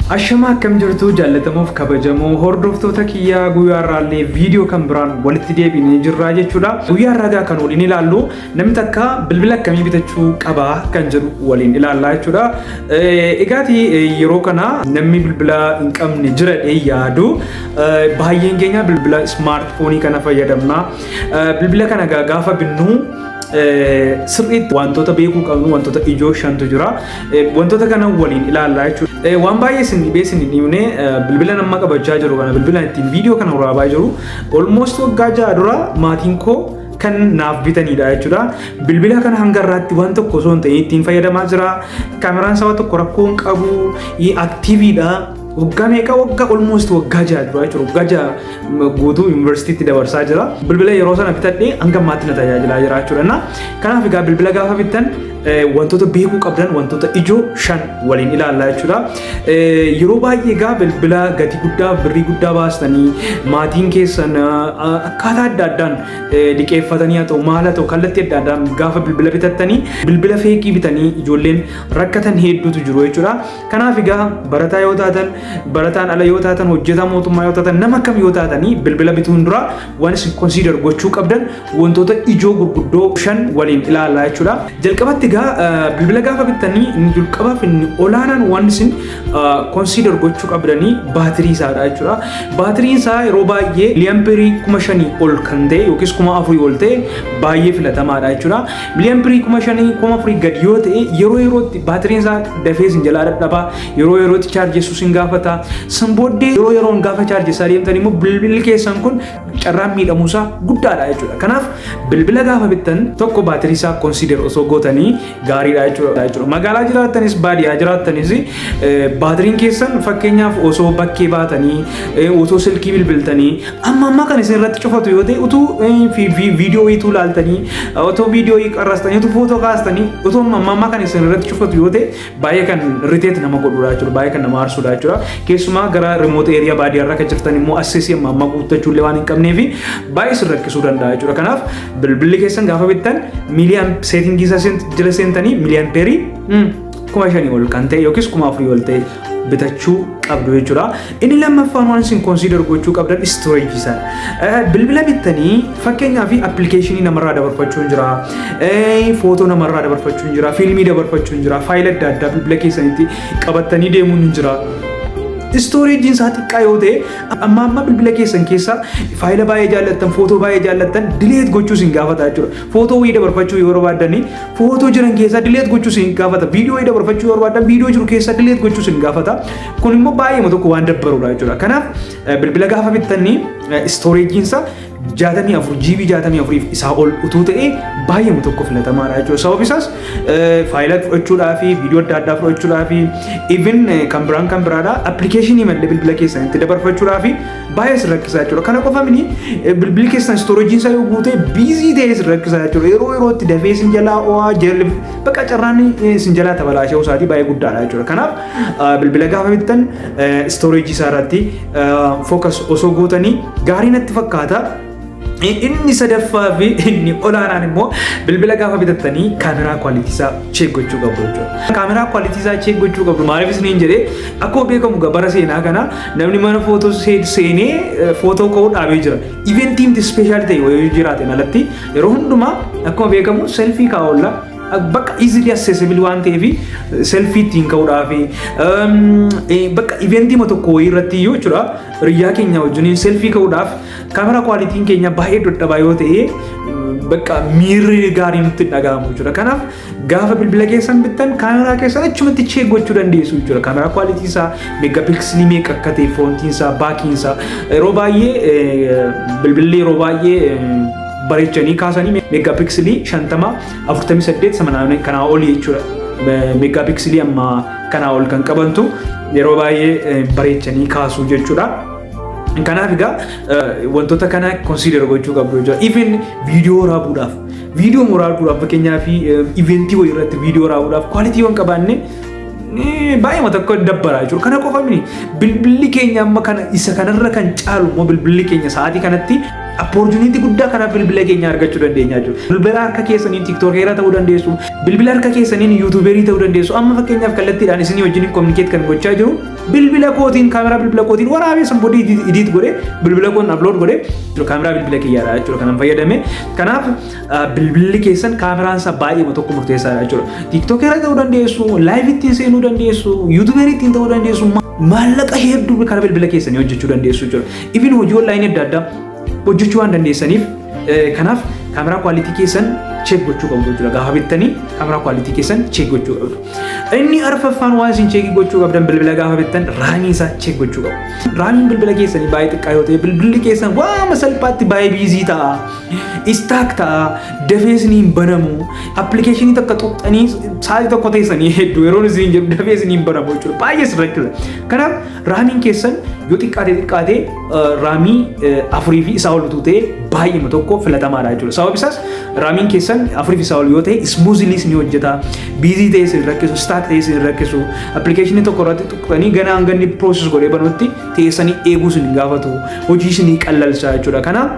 Ashamaa akkam jirtuu jaallatamoof kabajamoo hordoftoota kiyyaa guyyaa irraallee viidiyoo kan biraan walitti deebinee jirraa jechuudha. Guyyaa irraa egaa kan waliin ilaallu namni takka bilbila akkamii bitachuu qaba kan jedhu waliin ilaallaa jechuudha. Egaati yeroo kana namni bilbila hin qabne jira dhee yaadu baay'een keenya bilbila ismaartifoonii kana fayyadamna. Bilbila kana gaafa binnu sirriitti wantoota beekuu qabnu wantoota ijoo shantu jira. Wantoota kana waliin ilaallaa jechuudha. Waan baay'ee isin dhibee isin hin himne bilbila nama qabachaa jiru kana bilbila ittiin viidiyoo kana waraabaa jiru olmoost waggaa ja'a dura maatiin koo kan naaf bitanidha jechuudha. Bilbila kana hanga irraatti waan tokko osoo hin ta'in ittiin fayyadamaa jira. Kaameraan sababa tokko rakkoo hin qabu. Aktiiviidha. Waggaa meeqa waggaa olmoost waggaa ja'a dura jechuudha. Waggaa ja'a guutuu yuunivarsiitiitti dabarsaa jira. Bilbila yeroo sana bitadhee hanga ammaatti na tajaajilaa jira jechuudha. Kanaaf egaa bilbila gaafa bittan wantoota beekuu qabdan wantoota ijoo shan waliin ilaallaa jechuudha. Yeroo baay'ee egaa bilbila gatii guddaa birrii guddaa baastanii maatiin keessan akkaataa adda addaan liqeeffatanii haa ta'u maal haa ta'u kallattii adda addaan gaafa bilbila bitattanii bilbila feekii bitanii ijoolleen rakkatan hedduutu jiru jechuudha. Kanaaf egaa barataa yoo taatan barataan ala yoo taatan hojjetaa mootummaa yoo taatan nama kam yoo taatanii bilbila bituun dura Waan isin consider gochuu qabdan wantoota ijoo gurguddoo shan waliin ilaalaa jechuudha. Jalqabatti egaa bilbila gaafa bittanii inni jalqabaaf inni olaanaan waan isin consider gochuu qabdanii baatirii isaadha jechuudha. Baatiriin isaa yeroo baay'ee miliyaampirii kuma shanii ol kan ta'e yookiis kuma afurii ol ta'e baay'ee filatamaadha jechuudha. Miliyaampirii kuma shanii kuma afurii gad yoo ta'e yeroo yerootti baatiriin isaa dafee isin jalaa dadhabaa Yeroo yerootti chaarjessuu sin gaafata. San booddee yeroo yeroon gaafa chaarjessaa deemtan immoo bilbilli keessan kun carraan miidhamuusaa guddaadha jechuudha. Kanaaf bilbila gaafa bittan tokko baatirii isaa konsiider osoo gootanii gaariidha jechuudha. Magaalaa jiraattanis baadiyyaa jiraattanis baatiriin keessan fakkeenyaaf osoo bakkee baatanii osoo silkii bilbiltanii amma amma kan isin irratti cufatu yoo ta'e utuu viidiyoo ituu laaltanii otoo viidiyoo qarrastanii utuu footoo kaastanii otoo amma amma kan isin irratti cufatu yoo ta'e baay'ee kan irriteeti nama godhuudha jechuudha baay'ee kan nama aarsuudha jechuudha keessumaa gara remoot eeriyaa baadiyyaa irraa kan jirtan immoo assesii amma amma guuttachuu illee waan hin qabnee fi baay'ee isin rakkisuu danda'a jechuudha kanaaf bilbilli keessan gaafa bittan miiliyaan seetingii isaa seent- jala seentanii miiliyaan peerii kuma shanii ol kan ta'e yookiis kuma afurii ol ta'e bitachuu qabdu jechuudha. Inni lammaffaan waan isin consider gochuu qabdan storage isaa. Bilbila bittanii fakkeenyaa fi appilikeeshinii namarraa dabarfachuun jira, footoo namarraa dabarfachuun jira, fiilmii dabarfachuun jira, faayila adda addaa bilbila keessanitti qabattanii deemuun hin jira. Istooreejiin isaa xiqqaa yoo ta'e amma amma bilbila keessan keessaa faayila baay'ee jaallattan footoo baay'ee jaallattan dileet gochuu isin gaafata jechuudha. Footoo wayii dabarfachuu yoo barbaaddan footoo jiran keessaa dileet gochuu isin gaafata. Viidiyoo wayii dabarfachuu yoo barbaaddan viidiyoo jiru keessaa dileet gochuu isin gaafata. Kun immoo baay'eema tokko waan dabbaruudha jechuudha. Kanaaf bilbila gaafa bittanii istooreejiinsa 64 GB 64f isaa ol utuu ta'ee baay'eema tokko filatamaadha jechuudha. Sababni isaas faayila fudhachuudhaa fi viidiyoo adda addaa fudhachuudhaa fi even kan biraan kan biraadha appilikeeshinii malee bilbila keessan itti dabarfachuudhaa fi baay'ee isin rakkisaa jechuudha. Kana qofa mini bilbilli keessan istooreejiin isaa yoo guute biizii ta'ee isin rakkisaa jechuudha. Yeroo yerootti dafee isin jalaa oo'aa jalli bakka carraan isin jalaa tabalaashee osaatii baay'ee guddaadha jechuudha. Kanaaf bilbila gaafa bittan istooreejii isaa irratti fookas osoo gootanii gaarii natti fakkaata. Inni sadaffaa fi inni olaanaan immoo bilbila gaafa bitattanii kaameraa kwaalitii isaa cheek gochuu qabdu jechuudha. Kaameraa kwaalitii isaa cheek gochuu qabdu maaliif isiniin jedhee akkuma beekamu gabara seenaa kana namni mana footoo seenee footoo ka'uu dhaabee jira. Iventiin ispeeshaal ta'e wayii jiraateen alatti yeroo hundumaa akkuma beekamu selfii kaa'olla bakka easily accessible waan ta'eef selfie ittiin ka'uudhaaf bakka eventii ma tokko wayii irratti iyyuu jechuudha riyyaa keenya wajjin selfie ka'uudhaaf kaamera kwaalitiin keenya baay'ee dadhabaa yoo ta'e bakka miirri gaariin nutti hin dhaga'amu jechuudha kanaaf gaafa bilbila keessan bittan kaameraa keessan achumatti cheek gochuu dandeessu jechuudha kaameraa kwaalitii isaa meega piiksilii meeqa akka ta'e foontiin isaa baakiin isaa yeroo baay'ee bilbilli yeroo baay'ee bareechanii kaasanii meegaapiksilii 50 48 samanaanii kanaa olii jechuudha. Meegaapiksilii amma kanaa ol kan qabantu yeroo baay'ee bareechanii kaasuu jechuudha. Kanaaf egaa wantoota kana konsiidar gochuu qabdu jechuudha. Even viidiyoo waraabuudhaaf viidiyoo waraabuudhaaf fakkeenyaaf iventii wayii irratti viidiyoo waraabuudhaaf kwaalitii waan qabaanne baay'ee tokko dabbaraa jechuudha. Kana qofa miti bilbilli keenya amma kana isa kanarra kan caalu immoo bilbilli keenya sa'aatii kanatti Appoortuniitii guddaa karaa bilbila keenya argachuu dandeenya jechuudha. Bilbila harka keessaniin tiktookeera ta'uu dandeessu, bilbila harka keessaniin yuutuubeerii ta'uu dandeessu. Amma fakkeenyaaf kallattiidhaan isinii wajjin kominikeet kan gochaa jiru bilbila kootiin kaameraa bilbila kootiin waraabee san booda idiit godhee bilbila koon aplood godhee kaameraa bilbila kiyyaadha jechuudha kanan fayyadame. Kanaaf bilbilli keessan kaameraan isaa baay'eema tokko murteessaadha jechuudha. Tiktookeera ta'uu dandeessu, laayiv ittiin seenuu dandeessu, yuutuubeerii ittiin ta'uu dandeessu. maallaqa hedduu karaa bilbila keessanii hojjechuu dandeessu jechuudha. Even hojii online adda addaa hojjechuu waan dandeessaniif eh, kanaaf kaameraa quality keessan check gochuu qabdu jechuudha. Gaafa bittanii kaameraa quality keessan check gochuu qabdu. Inni arfaffaan waan isin check gochuu qabdan bilbila gaafa bittan raamii isaa check gochuu qabdu. Raamiin bilbila keessanii baay'ee xiqqaa yoo ta'e bilbilli keessan waama salphaatti baay'ee biizii ta'a. Istaak ta'a. Dafees ni hin banamu. Appilikeeshinii takka xuqxanii sa'aatii tokko teessanii hedduu yeroo isin jedhu dafees ni hin banamu jechuudha. Baay'ee si rakkisa. Kanaaf Raamiin keessan yoo xiqqaatee xiqqaatee raamii afurii fi isaa ol utuu ta'e baay'eema tokko filatamaadha jechuudha. Sababni isaas raamiin keessan afurii fi isaa ol yoo ta'e ismuuziliis ni hojjeta. Biizii ta'e isin rakkisu, staak ta'e isin rakkisu. Appilikeeshinii tokko irratti tuqxanii ganaa hanga inni piroosis godhee banutti teessanii eeguu isin gaafatu. Hojii isin qallalsa jechuudha. Kanaaf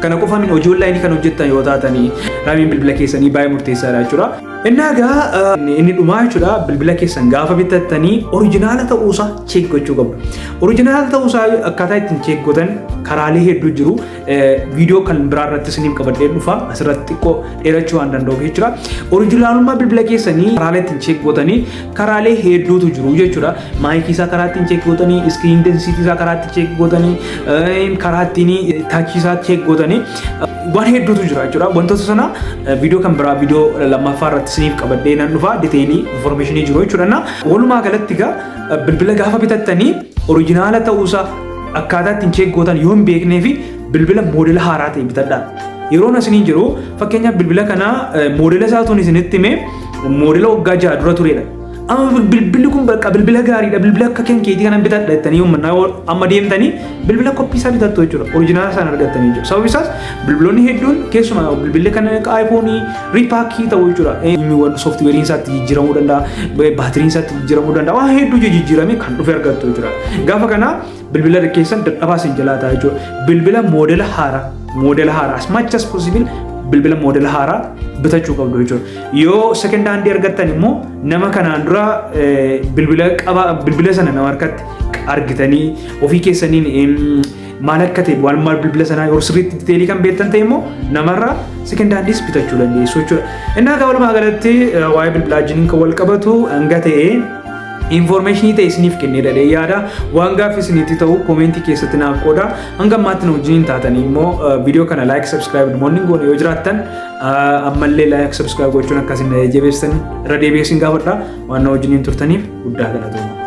kana qofa min hojii onlaayinii kan hojjettan yoo taatanii raamiin bilbila keessanii baay'ee murteessaadha jechuudha. Innaa egaa inni dhumaa jechuudha bilbila keessan gaafa bitattanii orijinaala ta'uusaa cheek gochuu qabdu. Orijinaala ta'uusaa akkaataa ittiin cheek gootan karaalee hedduu jiru. Viidiyoo kan biraa irratti isiniif qabadhee dhufa asirratti xiqqoo dheerachuu waan danda'uuf jechuudha. Orijinaalummaa bilbila keessanii karaalee ittiin cheek gootanii karaalee hedduutu jiru jechuudha. Maayikii isaa karaa ittiin cheek gootanii, iskiriin densiitii isaa karaa ittiin cheek gootanii, karaa ittiin taachii isaa cheek gootanii. waan hedduutu jira jechuudha. Wantoota sana viidiyoo kan biraa viidiyoo lammaffaa irratti isiniif qabadhee nan dhufa diteelii informeeshinii jiru jechuudha. Na walumaa galatti egaa bilbila gaafa bitattanii orijinaala ta'uusaa akkaataa ittiin cheek gootan yoo hin beeknee fi bilbila moodela haaraa ta'e bitadhaa. Yeroon asiniin jiru fakkeenyaaf bilbila kana moodela isaatuun isinitti himee moodela waggaa ja'a dura turedha. Amma bilbilli kun bakka bilbila gaariidha bilbila akka kan keetii kanan bitadha jettanii uummanna amma deemtanii bilbila koppii isaa bitattu jechuudha orijinaala isaan argattanii jechuudha sababni isaas bilbiloonni hedduun keessumaa bilbilli kan akka aayifoonii riipaakii ta'u jechuudha eenyuwwan sooftiweeriin isaatti jijjiiramuu danda'a baatiriin isaatti jijjiiramuu danda'a waan hedduu jijjiiramee kan dhufe argattu jechuudha gaafa kana Bilbila keessan dadhabaa isin jalaa ta'a jechuudha. Bilbila moodela haaraa moodela haaraa as much as possible bilbila moodela haaraa bitachuu qabdu jechuudha. Yoo second hand argattan immoo nama kanaan dura bilbila qaba bilbila sana nama harkatti argitanii ofii keessaniin maal akka ta'e waan maal bilbila sanaa yeroo sirriitti diteelii kan beektan ta'e immoo namarraa second handis bitachuu dandeessu jechuudha. Innaa akka walumaa galatti waa'ee bilbilaa wajjin kan wal qabatu hanga ta'e Infoormeeshinii ta'e isiniif kennee dhalee yaada waan gaaffii isinitti ta'u koomentii keessatti naaf qooda hanga ammaatti nu wajjin taatanii immoo viidiyoo kana laayik sabskiraayib namoonni hin goone yoo jiraattan ammallee laayik sabskiraayib gochuun akka isin jajjabeessan irra deebi'ee isin gaafadha waan na wajjin turtaniif guddaa galatoomaa.